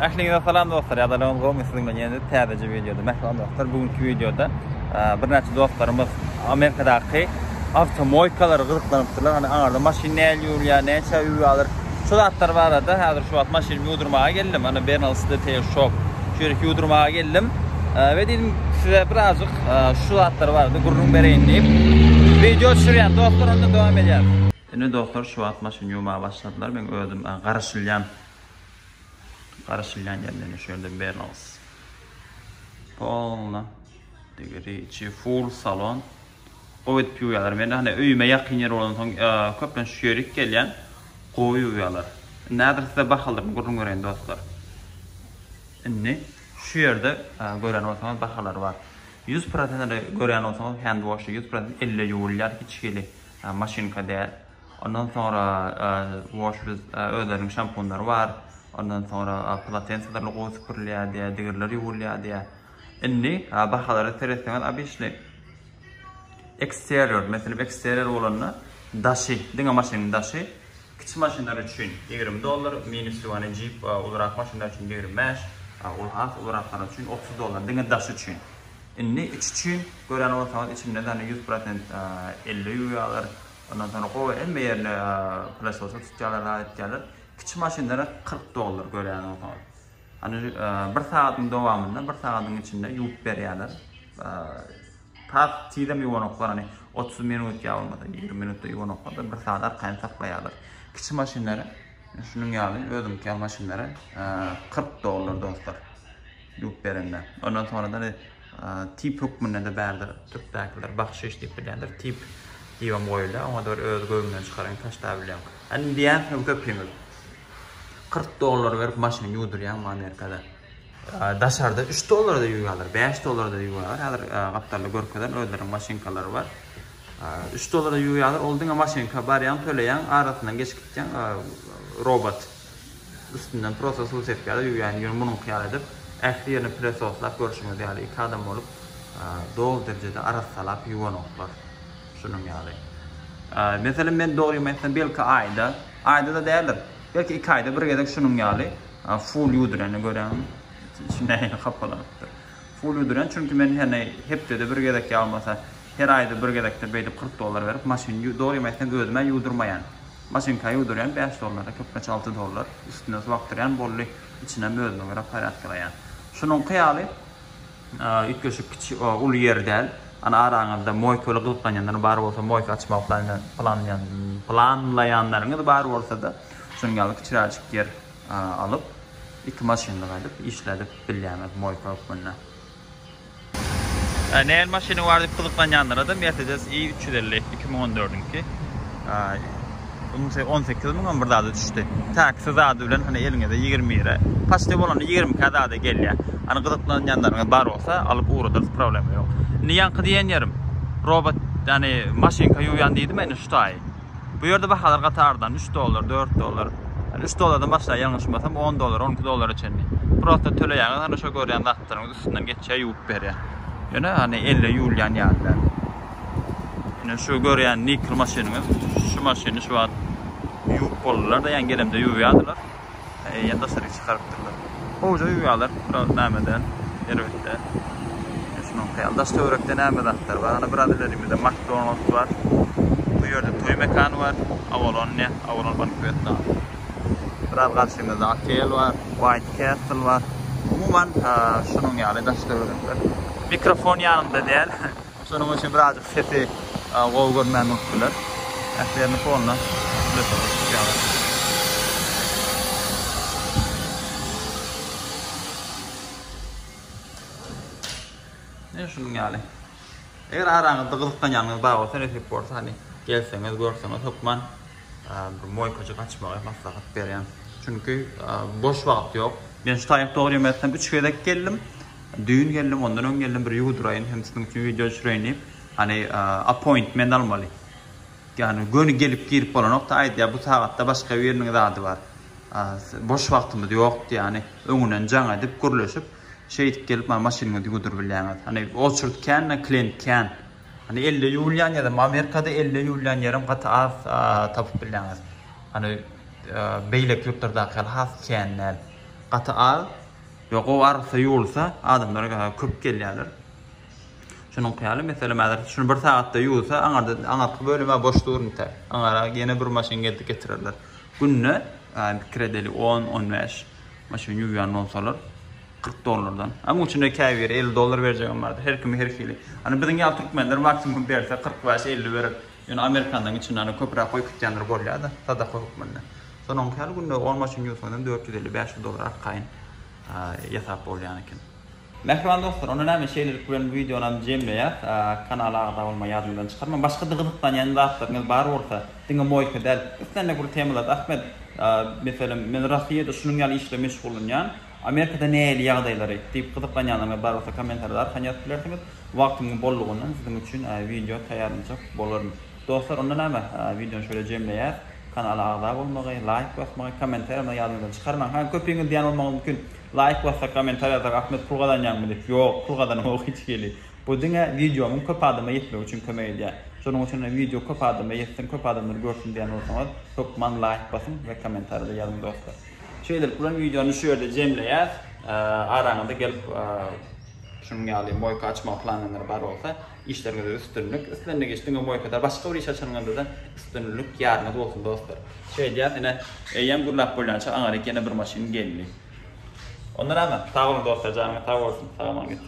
Ähliňize salam dostlar. Ýadalygyňyz gowmy? Siziň bilen ýene täzeje wideoda. Mähriban dostlar, bu günki wideoda birnäçe dostlarymyz Amerikadaky awtomoýkalara gyzyklanypdyrlar. Hany aňarda maşyn nähili ýurýar, näçe öý alýar? Şu zatlar barada häzir şu wagt maşynymy ýuwdurmaga geldim. Hany Bernals Detail Shop. Şu ýeri ýuwdurmaga geldim. We diýdim size birazjyk şu zatlar barada gürrüň bereýin diýip. Wideo düşürýän dostlar onda dowam edýär. Indi dostlar şu wagt maşyny ýuwmaga başladylar. Men özüm garaşylýan Garaşylýan ýerlerine şu ýerde berls. Polna. Degiri içi full salon. Gowy edip ýuwýarlar. Men hany öýüme ýakyn ýer bolan soň köplenç şu ýere gelýän. Gowy ýuwýarlar. Indi häzir size bahalyny gürrüň bereýin dostlar. Indi şu ýerde gören bolsaňyz bahalar bar. 100% görýän bolsaňyz handwash 100% elle ýuwulýar hiç hili maşynka däl. Ondan soňra wash biz özleriniň şampunlary bar. Ondan soňra polatenselerle gowy süpürilýär diýýär, digirler ýuwulýar diýýär. Indi bahalara seretseňiz abyşli eksterior, meselem eksterior bolanda daşy, diňe maşynyň daşy kiçi maşynlar üçin ýigrimi dollar, mini suv, jeep, ulurak maşynlar üçin ýigrimi bäş, ol has uluraklary üçin otuz dollar, diňe daşy üçin. Indi içi üçin görýän bolsaňyz içinde ýüz prosent elle ýuwýarlar. Ondan soňra gowy hemme ýerini plasosda tutýarlar, zat etýärler. Kiçi maşynlara 40 dollar görýän bolsaňyz. Hany bir sagatyň dowamynda, bir sagatyň içinde ýuwup berýärler. Tas tizem ýuwanoklar, hani 30 minut ýa bolmasa 20 minutda ýuwanoklar, bir sagat arkaýyn saklaýarlar. Kiçi maşynlara şunuň ýaly özüňki ýaly maşynlara 40 dollar dostlar. Ýuwup berende. Ondan soňra da Tip hökmünde-de bärde türkdäkiler bahşyş diýip bilýändir. Tip diýibem goýulýar. Oňa-da bir öz göwnüňden çykaryň, taşlabileň. Indi diýýänsiňiz köpüňiz, kyrk dollar berip maşyn ýuwdurýaňmy Amerikada? Daşarda üç dollara-da ýuwýarlar, bäş dollara-da ýuwýarlar. Häzir gapdalda görkezerin, özleriniň maşynkalary bar. Üç dollara ýuwýarlar. Ol diňe maşynka, barýaň, töleýäň, arasyndan geçip gitýäň, robot. Üstünden prosta suw sepip ýa-da ýuwýan ýüňi munuňky ýaly edip, ähli ýerini pylesoslap, görşüňiz ýaly, iki adam bolup doly derejede arassalap ýuwanoklar. Şunuň ýaly. Meselem, men dogrymy aýtsam, belki aýda, aýda-da däldir, belki iki aýda bir gezek şunuň ýaly full ýuwdyrany görýän. Nähili hapalanypdyr. Full ýuwdyrýan, çünki men hany hepdede bir gezek ýa bolmasa her aýda bir gezekdir beýdip kyrk dollar berip maşyny, dogrymy aýtsam, özüm-ä ýuwdurmaýan. Maşynka ýuwdurýan bäş dollara köplenç alty dollar, üstüne suw akdyrýan bolly, içinem özüme görä porýadka gaýan. Şunuňky ýaly üýtgeşik kiçi uly ýer däl. Ana araňyzda moýkaly gyzyklanýanlar bar bolsa moýka açmagy planlaýanlaryňyz bar bolsada şunuň ýaly kiçiräjik ýer alyp iki maşynlyga edip işledip bilýäňiz moýka hökmünde. Nähili maşynyň bar diýip gyzyklanýanlara-da Mercedes i üç ýüz elli iki müň on dördüňki. Onsy on sekiz müňem bir zada düşdi. Täkisi zady bilen hany eliňizde ýigrimi bire. Paçty bolanda ýigrimi ikä zada gelýär. Hany gyzyklanýanlaryňyz bar bolsa, alyp ugradarys, problema ýok. Indi ýaňky diýen ýerim, robot, ýagny maşynka ýuwýan diýdimä indi şu taýy. Bu ýerde bahalar gatardan, üç dollar, dört dollar. Ýani üç dollardan başlaýar, ýalňyşmasam, on dollar, on iki dollara çenli. Prosta töleýäňiz, hany şo görýän zatlaryňyz üstünden geçýär, ýuwup berýär. Ýöne hany elle ýuwulýan ýaly däl. Ýöne şu görýän nikl maşynyňyz, şu maşyny şu wagt ýuwup boldular-da, ýani gelemde ýuwýardylar. Eýýäm daşaryk çykarypdyrlar. Gowja uýalar biraz näme däl, erbet däl. Men şunuň haýal daş töwerekde näme zatlar bar. Ana biraz ilerimizde Makdonalds bar. Bu ýerde toý mekany bar. Avalon ne, Avalon bankwet zaly. Biraz garşymyzda otel bar, White Castle bar. Umuman, şunuň ýaly daş töwerekler. Mikrofon ýanymda däl. Şonuň üçin birazjyk sesi gowy görmän bolupdylar. Ähliýerini fonda üflese goşup tutýarlar. Ne şunuň ýaly. Eger araňyzda gyzyklanýanyňyz bar bolsa, nesip bolsa, hani gelseňiz, görseňiz, hökman bir moýkajyk açmagy maslahat berýän. Çünki boş wagt ýok. Men şu taýyp dogry ýemesem 3 gezek geldim. Düýn geldim, ondan öň geldim, bir ýuwudyraýyn hem siziň üçin wideo düşüreýin diýip, hany appointment almaly. Ýagny göni gelip girip bolanokda, aýdýar bu sagatda başga biriniň zady bar. Boş wagtymyz ýokdy, ýagny öňünden jaň edip, gürleşip, şeýdip gelip maňa maşynyňyzy ýuwudyryp bilýäňiz. Hany oçurt kän-ä, klient kän. Hany elde ýuwulýan ýerem, Amerikada elde ýuwulýan ýerem gaty az tapyp bilýäňiz. Hany beýleki ýurtlardaky ýaly has kän däl. Gaty az. Ýa gowy arassa ýuwulsa, adamlar köp gelýärler. Şunuňky ýaly, meselem, häzir şuny bir sagatda ýuwsa, aňyrda, aňyrky bölüm-ä boş dur biter. Aňyra ýene bir maşyn gelip getirerler. Günde, pikir edeli, on, on bäş maşyn ýuwýan bolsalar, kyrk dollardan. A munuň içinde käbiri elli dollar berjegem bardyr. Her kimiň her hili. Ony biziň ýaly türkmenler maksimum berse, kyrk bäş, elli berip, Ýöne amerikanlaryň içinde ony köpräk goýkitýänler bolýar-da, sadaka hökmünde. Sonuň käli günde on maşyn ýuwsaňyzam dört ýüz elli, bäş ýüz dollar arkaýyn ýasap bolýan eken. Mähriban dostlar, onda näme, şeýlelik bilen bu wideonam jemleýäs. Kanala agza bolmagy ýadyňyzdan çykarmaň. Başga-da gyzyklanýan zatlaryňyz bar bolsa, diňe moýka däl, islendik bir temalarda, Ahmet, meselem, men Rossiýada şunuň ýaly işle meşgullanýan, Amerikada nähili ýagdaýlary? diýip gyzyklanýanlaryňyz bar bolsa kommentarda arkan ýazyp bilersiňiz. Wagtymyň bollugyndan siziň üçin wideo taýýarlanjak bolaryn. Dostlar onda näme wideony şöyle jemleýäs. Kanala agza bolmagy, laýk basmagy, kommentariýamda ýadyňyzdan çykarmaň. Ha köpüňiz diýýän bolmagyňyz mümkin. Laýk bassak, kommentariýa ýazsak Ahmet pul gazanýaňmy diýip. Ýok, pul gazanamok hiç hili. Bu diňe wideomyň köp adama ýetmegi üçin kömek edýär. Şonuň üçin hem wideo köp adama ýetsin, köp adamlar görsün diýýän bolsaňyz hökman laýk basyň we kommentariýada ýazyň dostlar. Şeýlelik bilen wideony şu ýerde jemleýäs. Araňyza gelip şunuň ýaly moýka açmagy planlaýanlar bar bolsa, işleriňizde üstünlik. Islendik iş diňe moýkada, başga bir iş açanyňyzda-da üstünlik ýaryňyz bolsun dostlar. Şeýdýäs, ine, eýýäm gürläp bolýança aňryk ýene bir maşyn geldi. Onda näme? Sag boluň dostlar, janyňyz sag bolsun. Salam aleykum.